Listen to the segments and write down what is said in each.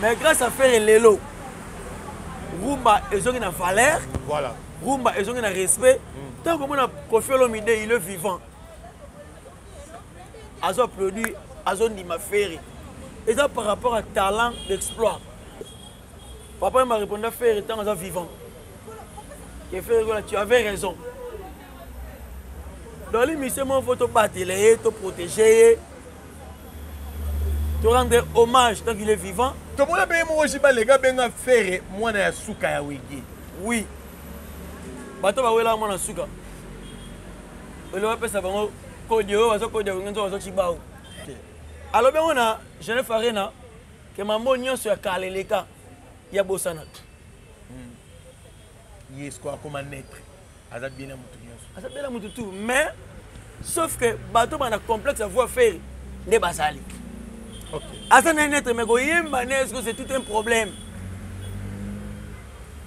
mais grâce à ferre lelo rumba ezongi na valeur voilà. rumba ezongi na respect mm. ntango komona kofi olomide il est vivant azo produit azondima ferre eza par rapport à talent d'exploit papa ye marépondre a ferre ntango aza vivant ke ferre kola tu avais raison dans l'émission moko fo tobatela ye toprotege ye To rendre hommage tant qu'il est vivant. To mona pe moko jiba lega benga ferre mwana ya suka ya wege. Oui. Bato ba wela mwana suka. Ele ba pesa bango kodi oyo bazo kodi wenge nzo bazo chibao. Alo bengo na Genève Arena ke mambo nyonso ya kaleleka ya bosanaka. ye sikoyo akoma naitre aza bien na motu nyonso aza bien na motu tout mais sauf que bato bana complexe ya voix ferre nde bazali aza na naitre mais koyemba ne sikoyo c'est tout un problème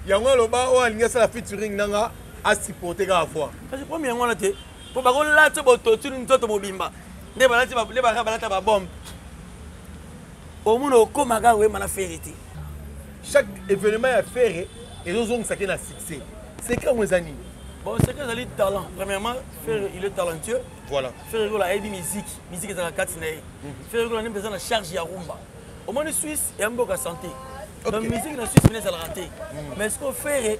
yango aloba oyo alingi asala featuring nanga asupporte kaka voix kasi problème yango wana te mpo bakolati bototuli nzoto mobimba nde balati balata babombe omona okoma kaka koyemba na fere te chaque événement ya fere ezozongisa ke na succès secret yango eza nini bon secret ezali talent premièrement fere il est talentueux voilà fere kola ayebi musique musique ezalaka kati na ye mhm. fere kola nde mpenza na charge ya rumba omoni suisse ya mboka santé donc musique na suisse mine ezalaka te mhm. mais sikoyo fere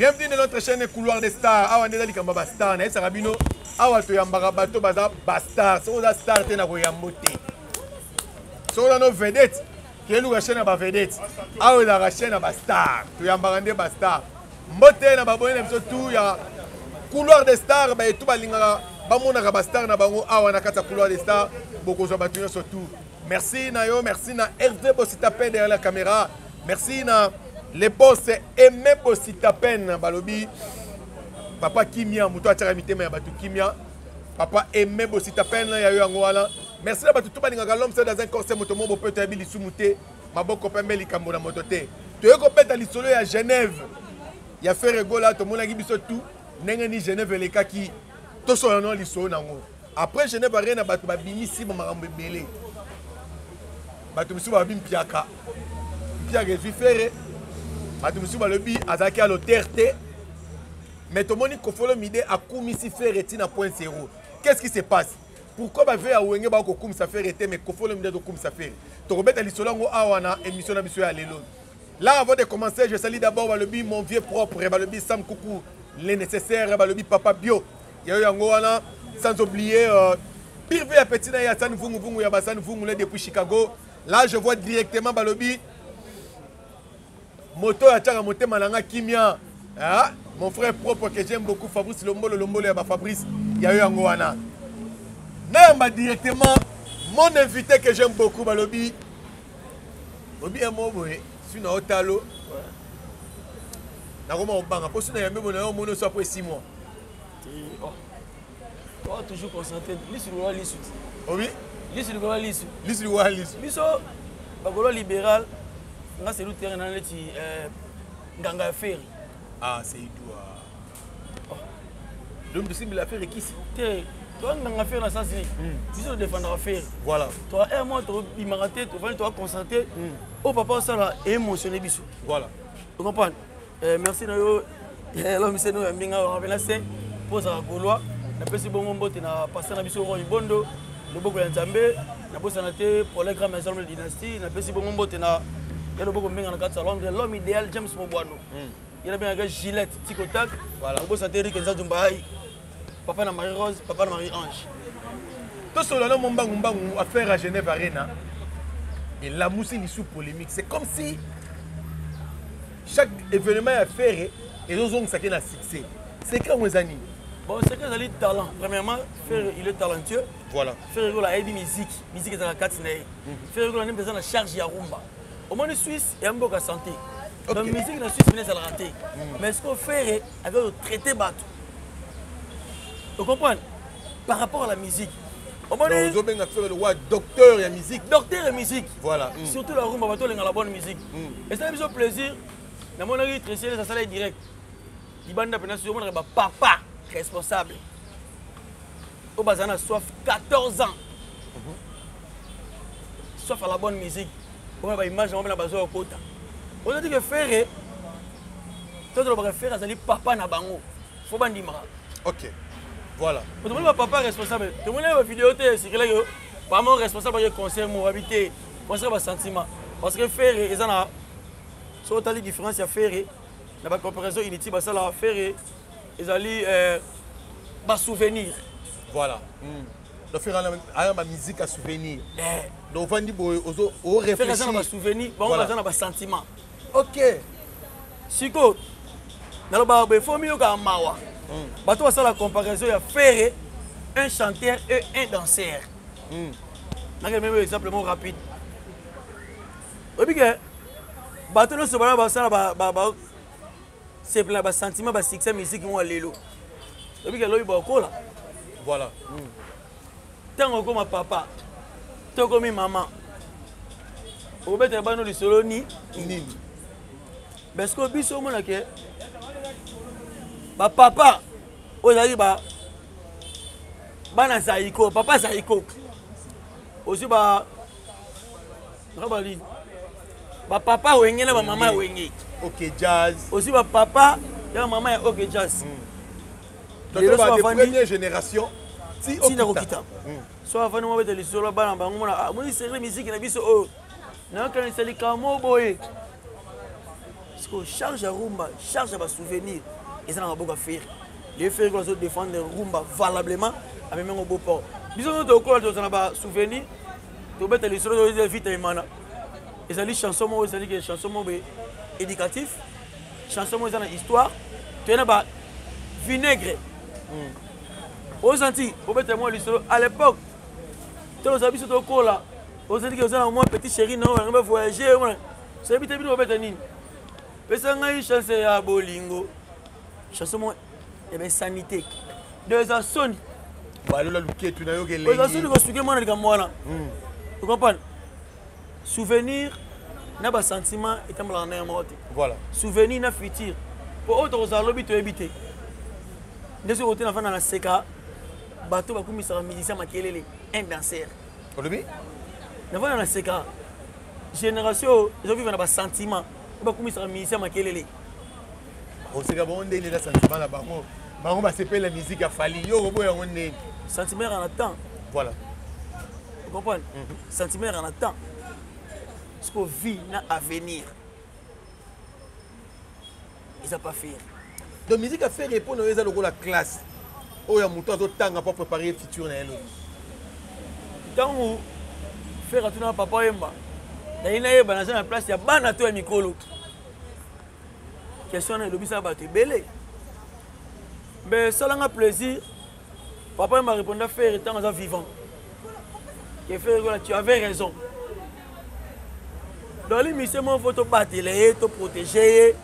bienvenue na notre chaîne couloir des stars awa nde eza likambo ya bastar nayebisaka bino awa toyambaka bato baza bastar soki oza star te na koyambo te soki oza no vedete keluka chaîne ya bavedete awa ezalaka chaîne ya bastar toyambaka nde bastar mbote na baboni na biso tu ya couloir des stars baetu balingaka bamonaka bastar na bango awa na kati ya couloir des stars bokozwa bato nyonso tour Merci na yo, merci na Hervé Bossitapen derrière la caméra. Merci na les boss Aimé Bossitapen balobi papa Kimia moto atiaka mitema ya bato Kimia papa Aimé Bossitapen ya yo yango wana. Merci na bato tout balingaka l'homme c'est dans un corps c'est moto moko peut être lisumu te maboko pembe likambo na moto te. Toye kobeta lisolo ya Genève ya Ferre Gola tomonaki biso tout ndenge ni Genève elekaki tosolo na lisolo nango. après genève arena bato babimisi bamakambo ebele bato mosusu balobi mpiaka mpiaka ezwi fere bato mosusu balobi azalaki ya lotere te mais tomoni kofolo mide akumisi fere ntina point zero qu'est-ce qui se passe pourquoi bavie ya wenge bako kokumisa fere te mais kofolo mide azokumisa fere tokobeta lisolo yango awa na émission na biso ya lelo là avant de commencer je sali d'abord balobi mon vieux propre balobi sam kuku le nécessaire balobi papa bio yayo yango wana sans oublier euh, pire vie ya petit na ye ya sani vunguvungu ya basani vungule depuis chicago là je vois directement balobi moto oyo atyaka motema na nga kimia ah, mon frère propre que j'aime beaucoup fabrice lombolo lombolo ya bafabrice yayo yango wana nayamba directement mon invité que j'aime beaucoup balobi obi ya mo boye su na otalo nakoma kobanga mpo su na yambe bonayo omoni oso apres 6 mois Oh, toujours concentré. Lisu likola lisu. Obi? Lisu likola lisu. Lisu likola lisu. Biso bakolo libéral nga c'est l'outil na leti euh nganga ferry. Ah, c'est Idoua. Oh. Donc tu cibles la ferry qui c'est toi nganga ferry na sens ni. Hmm. Biso défendre ferry. Voilà. Toi un mois tu bimaka te, tu vas te concentrer. Hmm. Oh papa ça là émotionné biso. Voilà. Tu comprends? eh, merci na yo eh, lomiseno ya mbinga wapena se mpo ozalaka golois napesi bongo mbote na paster na biso roi ibondo loboko ya nzambe nabosana te pole grand maison de dynastie napesi bongo mbote na ya loboko mbinga na kati ya londre l'homme idéal james mobwano hmm. ye nabengaka gilette ticotak nabosana te erik nzazumba ai papa na marie rose papa na marie ange tosolola na mombangu mbangu affaire ya genève arena elamusi lisu polémique c'est comme si chaque événement ya ferre ezozongisa ke na succès secret yango eza nini bon secret ezali talent premièrement ferre il est talentueux voilà ferre gola ayebi musique musique ezalaka kati na ye mhm. ferre gola nempe eza na charge ya rumba omoni suisse ya mboka santé donc musique na suisse mine ezalaka te mhm. mais siko ferre avec le traité bato o comprendre par rapport à la musique ozobenga fere lowa docteur ya musique docteur ya musique voilà mm. surtout la rumba bato olenga la bonne musique mm. esala biso plaisir namonaki tresiele asala ye direct libanda mpenza soki omonaka bapapa responsable oyo bazali na soif 14 ans mhm. soif à la bonne musique omona baimage yango mpena bazoya kota ozoti ke ferre to tolobaka ferre azali papa na bango fo bandimaka ok voilà tomoni bapapa responsable tomoni na bavideo te esikilaki pamo responsable ake concert mo wabi te concert basentiment parce que ferre eza na so otali différence ya ferre na bacomparaison inutile basala ferre ezali euh, basouvenir voilà mm. nafekana aya bamiziki ya souvenir eh. donc ofandi boye oreflexiaza na basouvenir bango baza na basentiment ok sikoyo nalobaka boye fo miyokaka mawa mm. bato basala comparaison ya ferre un chanteur et un danseur mm. nakende meme exemple moko rapide oyebi ke bato nyonso bana basala sepela na ba sentiment ba succès musique mwa lelo oyebi ke lobi bakola voilà ntango hmm. okoma papa to okomi mama okobetela bano lisolo ni nini parce que biso omona ke bapapa oyo ezalaki ba bana zaiko papa zaiko ozwi ba Rabali. Ba papa wenge na ba mama wenge. OK jazz. Aussi ba papa ya mama ya OK jazz. Hmm. Lelo ba première génération. Ti okita. Hmm. So avani mwa beta lisolo bana bango mona ah moni serre musique na biso oyo. Oh. Na kanisa likamo boye. Siko charge ya rumba, charge ya ba souvenirs. Eza na maboko ya ferre. Les ferre ko zo défendre rumba valablement avec mon beau port. Biso nyoto okola tozana ba souvenirs tobeta lisolo toyeza vita emana ezali chanson moko ezali ke chanson moko boye éducatif chanson moko eza na histoire toye na ba vinaigre hmm. ozanti obeta mwa lisolo à l'époque ntango ozala biso tokola ozali ke oza na mwa petit chéri na oyo nanga voyage wana soyebi te bino obeta nini pesa ngai chance ya bolingo chanson moko ebesani te do eza soni balola luketu nayoka elengi eza soni kosuke mwana likambo wana hmm. okomprane souvenir na basentiment etambolaka na yango moko te voilà souvenir na futur mpo oyo tokozala lobi toyebi te nde soki ote nafanda na seka bato bakumisaka musicien makelele un danser olobi nafanda na seka génération oyo ezoviva na basentiment oyo bakumisaka musicien makelele oseka bango ndenge eza sentiment na bango bango basepela miziki ya fali yo okoboya yango ndenge sentiment ya na temps voilà okomprendre mhm. sentiment ya na temps siko vie na avenir eza pas faire donc miziki ya faire epo na yo eza lokola classe oyo ya moto azotanga mpo prépare futur na ye lobi ntango faire atuna papa yemba naye nayeba naza na place ya bana to ya mikolo question wana elobisa bato ebele mbe esalanga plaisir papa m'a répondu à faire étant aza vivant que faire voilà tu avais raison dans l'émission mon photo batele to protéger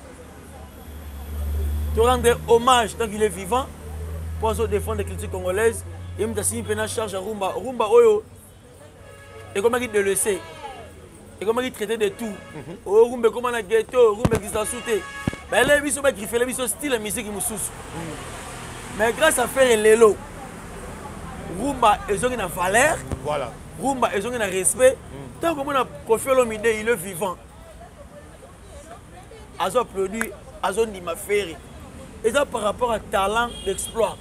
te rendre hommage tant qu'il est vivant pour défendre les cultures congolaises et me tasini pena charge à rumba rumba oyo ekomaki de lese ekomaki traité de tout mhm. oyo oh, rumba ekoma na ghetto rumba ekisasu te bayelai biso bagrifele biso style ya miziki mosusu mhm. mais grâce à ferre lelo rumba ezongi na valeur voilà. rumba ezongi na respect ntango mhm. komona kofi olomide il est vivant azo applaudi azondima ferre eza par rapport à talent d'exploit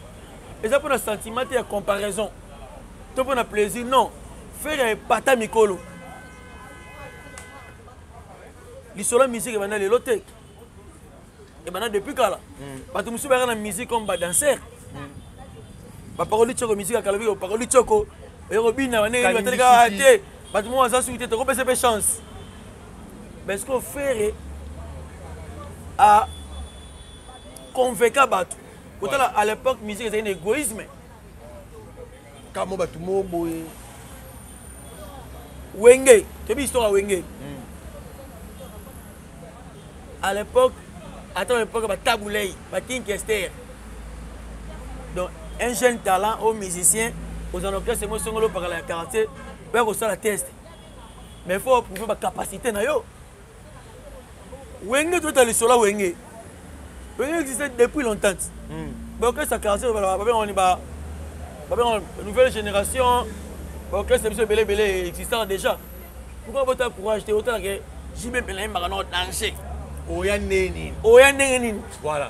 eza mpona sentiment te ya comparaison to mpona plaisir non ferre epata mikolo lisolo ya musique ebanda lelo te ebanda depuis kala hmm. bato mosusu bayaka na musique comme badanser hmm. baparoli tioko musique ya kala biki baparoli tioko oye kobina banei bateleka te bato moko baza suki te tokopesa mpe chance mais sikoyo ferre a convainca bato kotala à l'époque musique ezali na égoïsme kamo bato moo boye wenge toyebi histoire ya wenge hmm. à l'époque ata na époque batabulei bakinkester donc un jeune talent au musicien ozana orchestre mo esongoli opakala ya quartier oya kosala teste mais faut prouver ba capacité na yo wenge tota lisolo ya wenge wenge existe depuis longtemps hmm. baorchestre quartier babengani ba babengani nouvelle génération baorchestre biso ebele ebele existant déjà pourquoi bota courage te otala ke jibe mpela yembaka nao danger oya ndenge nini oya ndenge nini voilà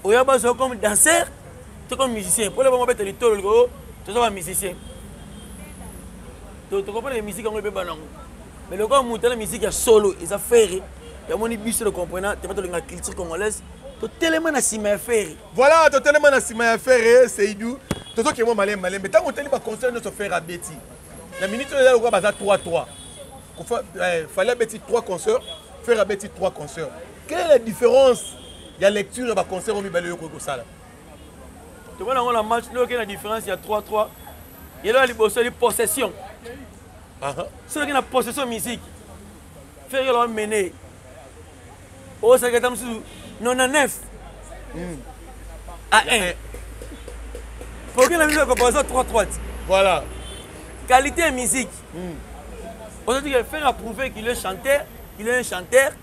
oya bazo comme danseur to comme musicien pole bango beta litolo liko toza ba musicien to to comprendre musique yango ebeba nango mais lokola moto na musique ya solo eza ferre yamoni biso le comprena te batolinga culture congolaise totelema na nsima ya ferre voilà totelema na nsima ya ferre seidou tozokende mwa malembe malembe ntango otali baconcert nyonso ferre abeti na minute oyo eza lokola baza 3 3 fallait abeti 3 concert ferre abeti 3 concert quelle est la différence ya lecture ya ba concert oyo mibale oyo kosala tomona yango na match nde okei na différence ya 3 3 yelo ya liboso eli possession soki okei na possession musique fere yelo amene osalaki ata mosusu 99 a 1 poke na biso ekoposa 3 3 ti voilà qualité ya musique hmm. aujourd'hui fere a prouvé qu'il est chanteur qu'il est un chanteur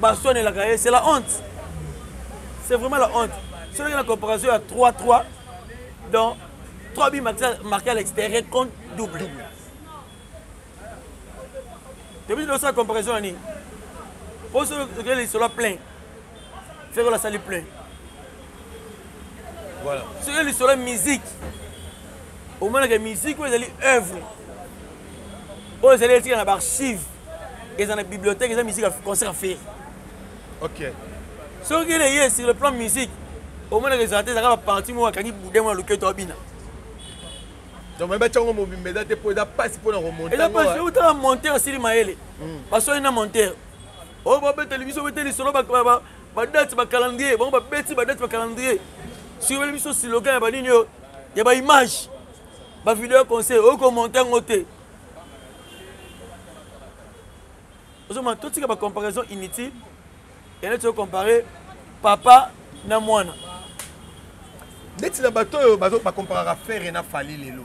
baswanelaka ye c'est la honte c'est vraiment la honte soki na comparaison ya 3 3 donc 3 bi marqué à l'extérieur contre double toyebi tosala comparaison ya nini mpo soki okei lisolo ya plein fekolo asali plein voilà soki lisolo ya musique omonaka musique oyo ezali œuvre oyo ezali etika na baarchive eza na bibliothèque eza musique ya concert aferi ok soki ele ye sur le plan musique omonaka ezala te ezaka baparti moko akangi bude mwana loketo abina donc mayeba tiango mobimba eza te mpo eza mpasi mpo na komonteeza mpasi otala monteur asili mayele hmm. baswani na monteur oyo oh, babeteli biso bete lisolo badate bacalendrier bango babeti badate bacalendrier soki beli biso siloga ya banini oyo ya baimage bavideo conseil oyo komonte yango te ozomona totika bacomparaison inutile yande toyo compare papa na mwana ndeti na bato oyo bacomparaka ferre na fali lelo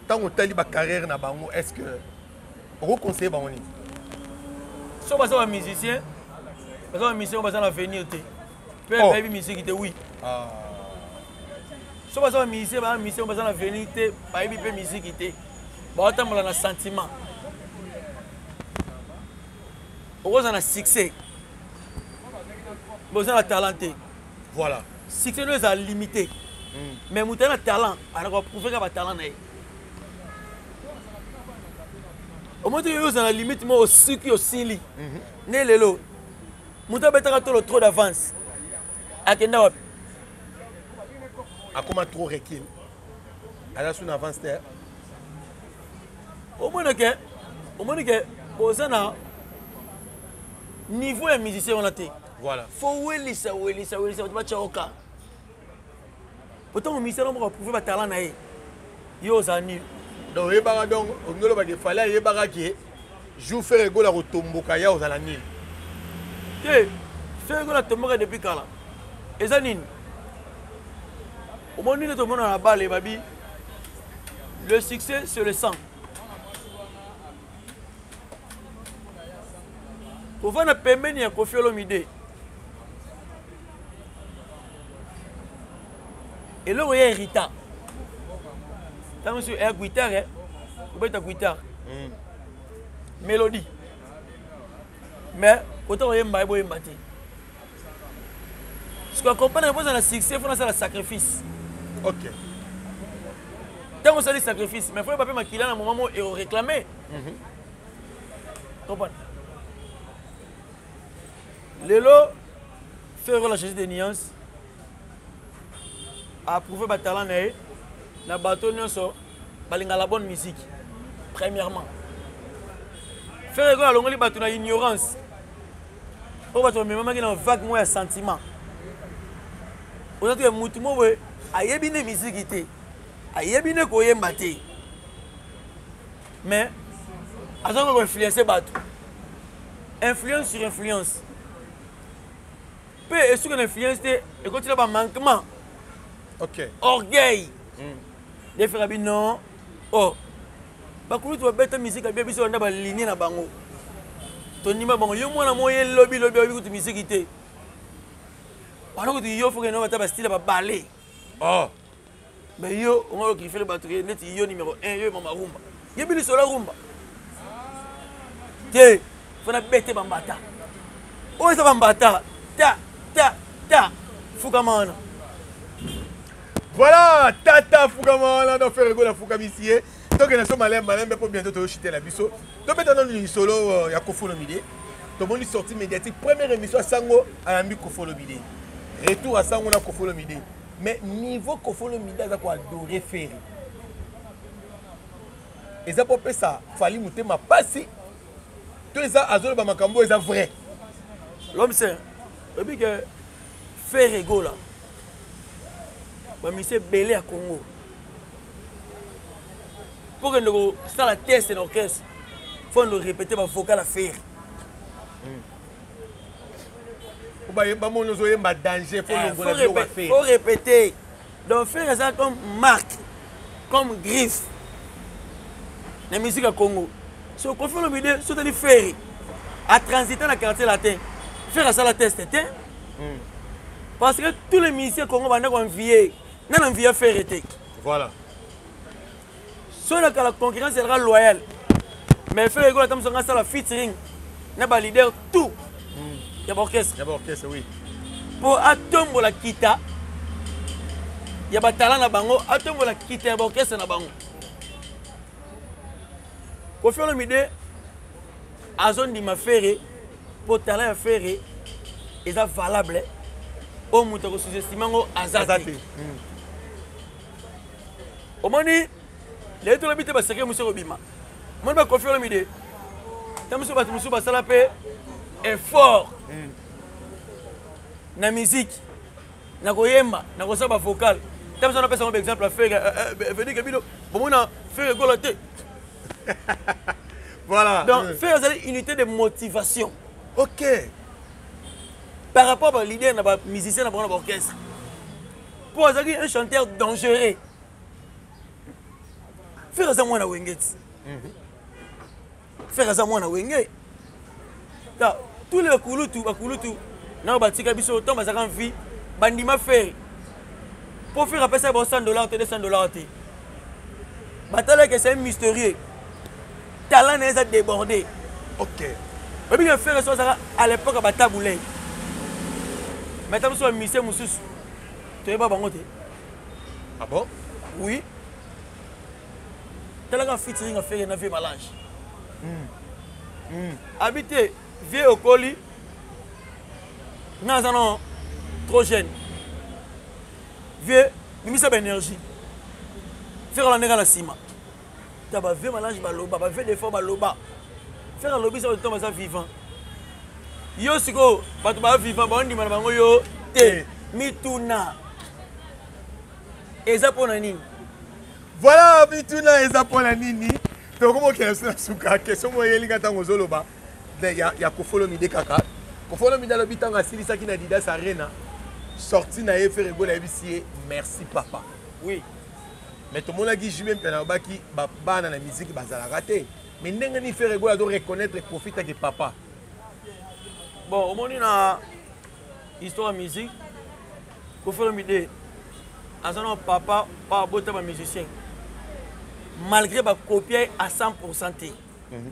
ntango otali bacarrière na bango est ce que okoconseille bango nini so baza bamusicien baza bamusicien oyo baza na avenir te Père oh. bayebi musique te oui. Ah. So baza ba musicien ba musicien baza na veni te bayebi mpe musique te. Baotambola na sentiment. Okoza na succès. Boza na talent te. Voilà. Succès no eza limité. Mm. Mais moto na talent, anakoka prouver ka ba talent na ye. omoni te yo ozala limite moko osuki osili mhm. nde lelo moto abetaka tolo trop d'avance akenda wapi akoma trop recul aza suna avance te omoni ke omoni ke boza na niveau ya musicien wana te voilà fo welisa welisa welisa bato batya oka otango ministère na moko aprouve batala na ye yo ozala nini donc oyebaka donc olingi oloba ke fale ayebaka ke jour fere egola akotomboka ya ozala nini te fere egola atomboka depuis kala eza nini omoni nde tomona na bale babi le succès c'est le sang kovanda pembeni ya kofi olomide eloko ya erita ntango mosusu ya guitare eh? kobeta guitare hmm. mélodie mais kota koyemba ye boyemba te sikoya comprendre mpo ozala succès fona asala sacrifice ok ntango osali sacrifice mais foyeba mpe makila na moment mo eoreclame mhm. comprendre lelo ferro la changé de nuance approuve batalent na ye na bato nyonso balinga la bonne musique premièrement ferre ekoyo alongoli bato na ignorance oyo bato bamemamaki na vague moko ya sentiment oza te motu moko boye ayebi nde miziki te ayebi nde koyemba te mais aza ko influencer bato influence sur influence mpe esuki na influence te ekoti na bamanquement okay. orgueil mm. defera bino o oh. bakulutu babeta miziki abia biso banda balinie na bango tondima bango yo mwana moye lobi lobi oyebi kutu miziki te wana kutu yo fokenoata bastile babale oh. mais yo onga yo kilifele bato ke neti yo numéro 1 yo mama rumba yebi lisola rumba te fana bete bambata oyo eza bambata ta ta ta fukama wana voilà tata fukama wana don fere gola fukamisi ye tokende so malembe malembe mpo bientôt toyoshitela biso tobeta nano lisolo euh, ya kofolomide tomoni sortie médiatique première émission ya sango ayambi kofolomide retour ya sango na kofolomide mais niveau koffi olomide aza ko adore ferre eza mpo opesa fali motema mpasi to eza azoloba makambo oyo eza vrai lomse oyebi ke ferre gola bamisi ebele ya congo mpo kende kosala test na orchestre fo ndo répéte bavocal ya ferre hmm. bamoni ozoyemba danger faut répéter donc fer eza comme marque comme griffe na musique ya congo so kofi olomide so otali feri atransita na quartier latin feri asala teste te hmm. parce que tous les musiciens congo banda koenvie na na envie ya feri te voilà soki na kala concurrence ezalaka loyal mais fere ekola tamuso nga asala featuring na baleader tout hmm. ya baorchestre mpo atombola kita ya batala na bango atombola kita ya baorchestre na bango kofi olomide azondima fere mpo tala ya fere eza valable oyo moto akosuzestime yango aza te hmm. omoni lelo tolobi te baseke mosusu ekobima omoni bakofi olomide ta mosusu bato mosusu basala mpe effort hmm. na miziki na koyemba na kosala bavokale ta mosusu napesa ngo baexemple ya fere eh, eh, vedike bino bomona fere ekola te voilà donc hmm. fere ezali unité de motivation ok par rapport ba leader na ba musicien na bango na baorchestre mpo azalaki un chanteur dangereux fere aza mwana wenge ti mhm. fere aza mwana wenge ta tous les bakulutu bakulutu nao batika biso ntango bazalaka mvi bandima fere mpo fere apesa bao 100 dollar to 200 dollar te batalaka esali mysterieux talent na ye eza débordé ok oyebi ke fere so azaka à l'époque ya batabulei mais ata biso bamise mosusu toyeba bango te ah bon oui talaka featuring ya fere na vie malange mm. mm. abi te vie okoli nga aza no trop jeune vie bimisa baénergie fere alandeka na nsima ta ba vie malange baloba ba vie de fois baloba faire alobi ça temps baza vivant yo sikoyo bato ba vivant baondima na bango yo te mituna eza mpo na nini voilà mituna eza mpo na nini tokomi okenda so na suka question moko eyelinga ntango ozoloba ya kofolo mide kaka kofolo mide alobi ntango asilisaki na didas arena sorti na ye ferre gola ayebisi ye merci papa oui mais tomonaki jube mpe nalobaki bana na miziki bazalaka te mais ndenge nini fere gola to reconnaître kofi take papa bon omoni na histoire ya musique kofero mide aza na papa oyo abota bamusicien malgré bakopie à 100 te mhm.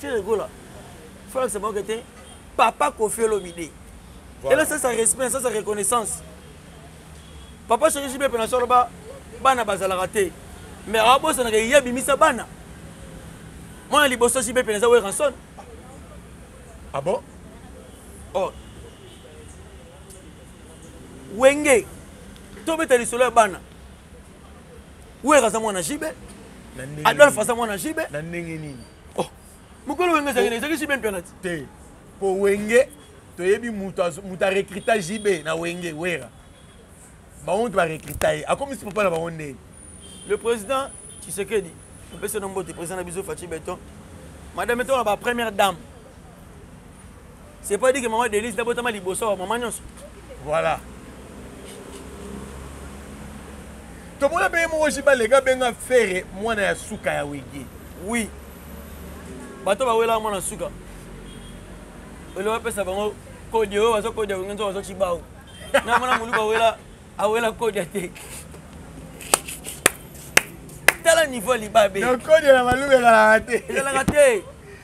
Ferre Gola. Faut que ça manque était papa Kofi Olomide. Voilà. Et là ça ça respect, ça ça reconnaissance. Papa Chéri JB pena solo ba bana bazala raté. Mais abo ça na ye bimisa bana. Moi na liboso JB pena za Werrason. Ah bon? Oh. Wenge. Tobeta lisolo ya bana. werra aza mwana jibe adolphe aza mwana jibe na ndenge nini oh, mokolo wenge ezalaki ezalaki jibe mpe nati te mpo wenge toyebi moto arekrita jibe na wenge werra bango nto barekrita ye akomisi papa na bango ndenge le président tshisekedi opesi no mbote président na biso faci beton madame etona ba première dame c'est pas dit que maman Denise nabotama liboso ya maman nyonso voilà tomona mpe ye moko jiba lega benga fere mwana ya suka ya wege oui bato bawelaka mwana suka eloko apesa bango kodi oyo bazo kodi ya wenge nzo bazo cibawu na mwana moluku awela awela kodi ya te tala niveau libabe kodi ya na maluku ezalaka te ezalaka te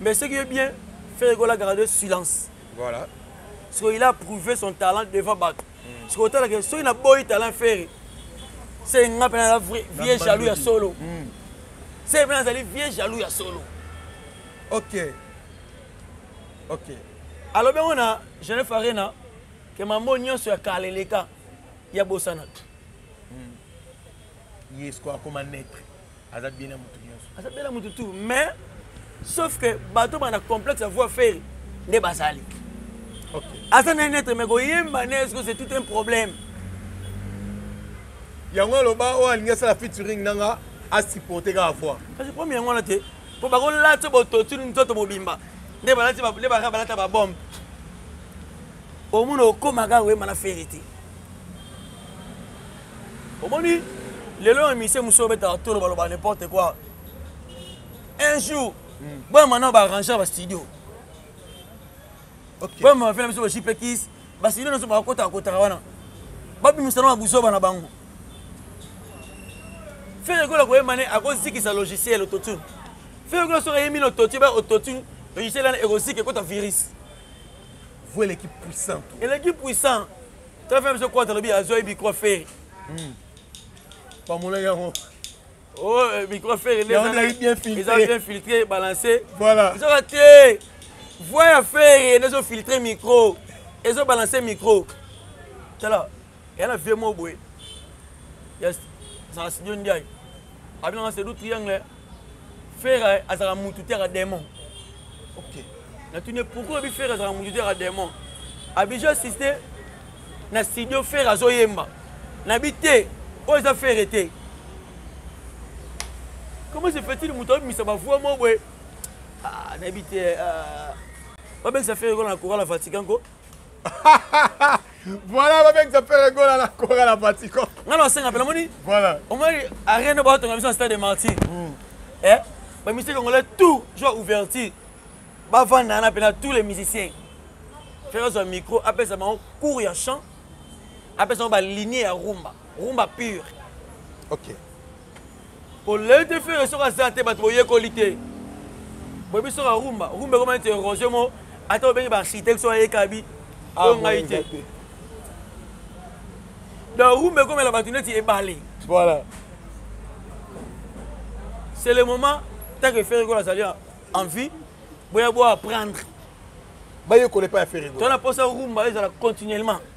mais ce qui est bien ferre gola garde silence voilà parce qu'il a prouvé son talent devant bato mm. parce que otalaka soki na boyi talent ferre se nga mpe naza vieux jaloux ya solo mm. se mpe nazali vieux jaloux ya solo ok ok alobi yango na genève arena ke mambo nyonso ya kala eleka ya bosanatu ye sikoyo akoma naitre aza bien na motu nyonso aza bien na motu tout mais sauf que bato bana complexe ya voix ferre nde bazali aza na naitre mais koyemba ne sikoyo c'est tout un problème yango aloba oyo alingi asala featuring nanga asupporte kaka voix kasi problème yango wana te mpo bakolati bototu nzoto mobimba nde balati nde baka balata babombe omona okomaka oyemba na ferre te omoni lelo na misie mosusu obetaka tolo baloba n'importe quoi un jour hmm. boya mana baarrangea bastudio boya mafela biso bajipekis bastudio nyonso bakotaka kotaka wana babimisa na babuzoba na bango fere ekola koyemba ne akozikisa logiciel autotune fere ekola soki ayembi na autotune ba autotune logiciel wana ekozika ekota virus vous eleki puissant eleki puissant très faible biso kwata lobi azwa ye micro ferre hmm. bamona yango oh euh, micro ferre eza bien filtré balancé voilà ezoka te voix ya ferre nde ezofiltre micro ezobalanse micro tala eya na vie moko boye ya zala studio ndiaye abinanga sedu triangle Ferre azalaka mutu te aka demon. OK. Natuni pourquoi bi Ferre azalaka mutu te aka demon. Abija assiste na studio Ferre azoyemba. Na bi te oyo eza Ferre te. Comment se fait-il mutu abimisa ba voix mo boye? Ah, na bi te. Euh... babengisa fere kola na koka na vatican ko voilà babengisa pere gola na kora na vatican nga na basenga mpe namoni voilà omoni arena batonga biso na stade de martyr mm. eh, bamisiki congolais tout joa ouverture bavanda na mpena tous les musiciens fere azwa micro apesa bango cours ya chant apesa bango balinie ya rumba rumba pure okay. polele te fere soki aza te bato boyekoli te boyebi soki arumba rumba ekoma neti erosion mo ata obengi baarchitecte soki ayekabi ah, oyo ngai te donc rumba ekomela bato neti ebale voilà c'est le moment tant que fere kola azali en vie boya boapprendre bayekola epai ya fere tona mposa rumba ezala continuellement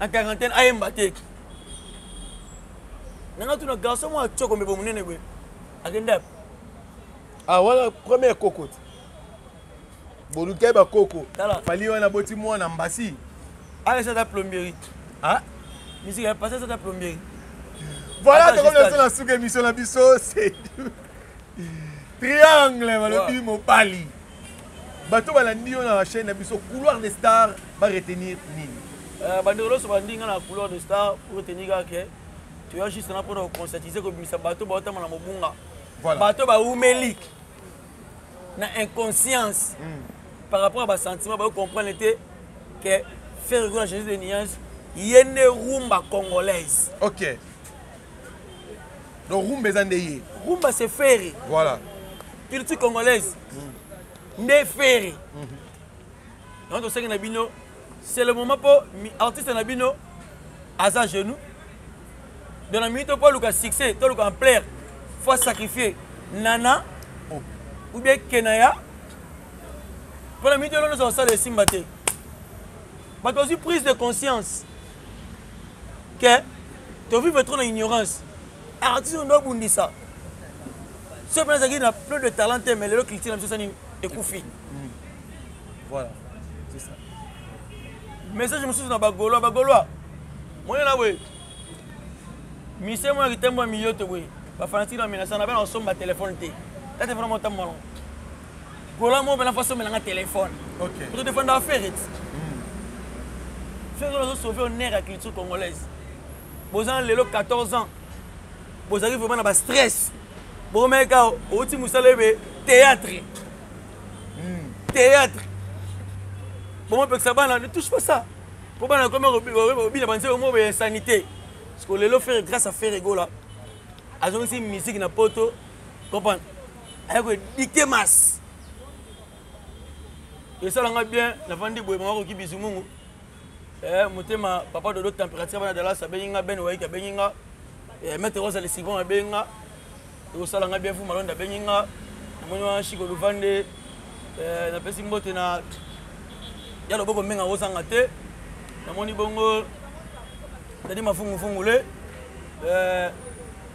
na quarantaine ayemba te nanga tuna garçon mwa coko mebe monene boye akenda yapi ah wana première koko te bolukai bakoko fali wana boti mwana mbasi alesa ata plomberie ah? misiki ya pasa ata plomberie voilà tokomi na biso na suka émission na biso c'est triangle balobi mobali bato balandi yo na chaîne na biso couloir de star ba retenir nini euh, bandeko loso balandi nga na couloir de star pour retenir kaka ke toya juste na mpona koconcertise kobimisa bato baotama na mobunga bato baumeli na inconscience hmm. par rapport ya basentiment bayo comprendre te ke ferre gola jesus de niance ye nde rumba congolaise okay. donc rumba eza nde ye rumba c'est ferre voilà culture congolaise mm. nde ferre mm -hmm. donc tosengi na bino c'est le moment mpo artiste na bino aza genou donc na minute mpo oluka succès toluka ampleur fo asacrifie nana oh. ou bien kenaya mpo na minute elo nyonso kosala esimba te bato bazwi prise de conscience ke tovivre trop na ignorance artiste oyo nde obundisa soki mpe nazalaki na plus de talent te mais lelo culture na biso sani ekufi voilà c'est ça message mosusu na bagolois bagolois moye na boye mise mwana kitembo ya miyoto boye bafanatiki na menasa na bana kosomba telefone te ta telefone mwa ntango malongo gola moko mpena faso omelanga telefone kutu defendaka fereti fereti ozo sauve honneur ya culture congolaise boza na lelo 14 ans bozalaki vraiment na bastress bokomaki kaka outi mosala ebe théâtre hmm. théâtre bomopekisa bana ne touche pas ça mpo bana ekomi obina banzela omo ya sanité parce que lelo fere grâce à fere egola azongisi musique na poto comprendre aye ko dicte masse esala nga bien navandi boye mama koki bizumungu eh, motema papa dodo température bana dallas abengi nga ben waiki abengi nga eh, maître rosa lesivon abengi nga ekosala nga bien fu malonda abengi nga namoni wana shiko luvande eh, napesi mbote na ya loboko mbenga kozanga te namoni bongo tadi mafungufungu le eh,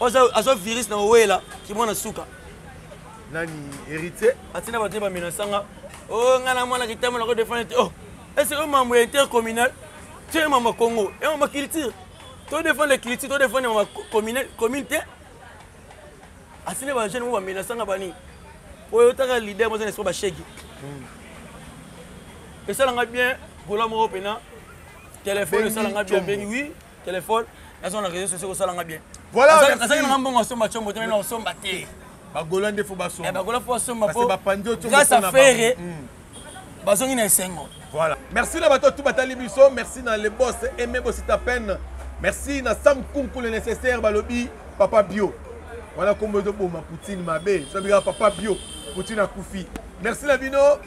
oza azo virus na owela kimwana suka nani héritier atina bato ye bamenasanga o oh, ngai na mwana kitambo nako defendre te o oh, ese yo mambo ya intercommunal ti ye mambo ya congo ye mambo ya culture to defendre culture to defendre mambo ya commune te asine bajeune mo bamenasanga bani oyo otaka leader moza na espo bashegi hmm. esalanga bien gola moko mpena telefone esalanga bien bengi wi Téléphone, nazo na réseaux sociaux kosala nga bien. Voilà. Azali na mbongo asomba chombo te na osomba te. Ba Gola nde faut basomba. Eh ba Gola faut basomba po. Ba pandio chombo. Grâce à Ferre. Hmm. Bazongi na esengo. Voilà. Merci na bato tout batali biso, merci na le boss Aimé Bosita Pen. Merci na Sam Kunku le nécessaire balobi papa bio. Voilà kombo ezo boma Poutine mabe. Sobi papa bio. Poutine akufi. Merci la bino.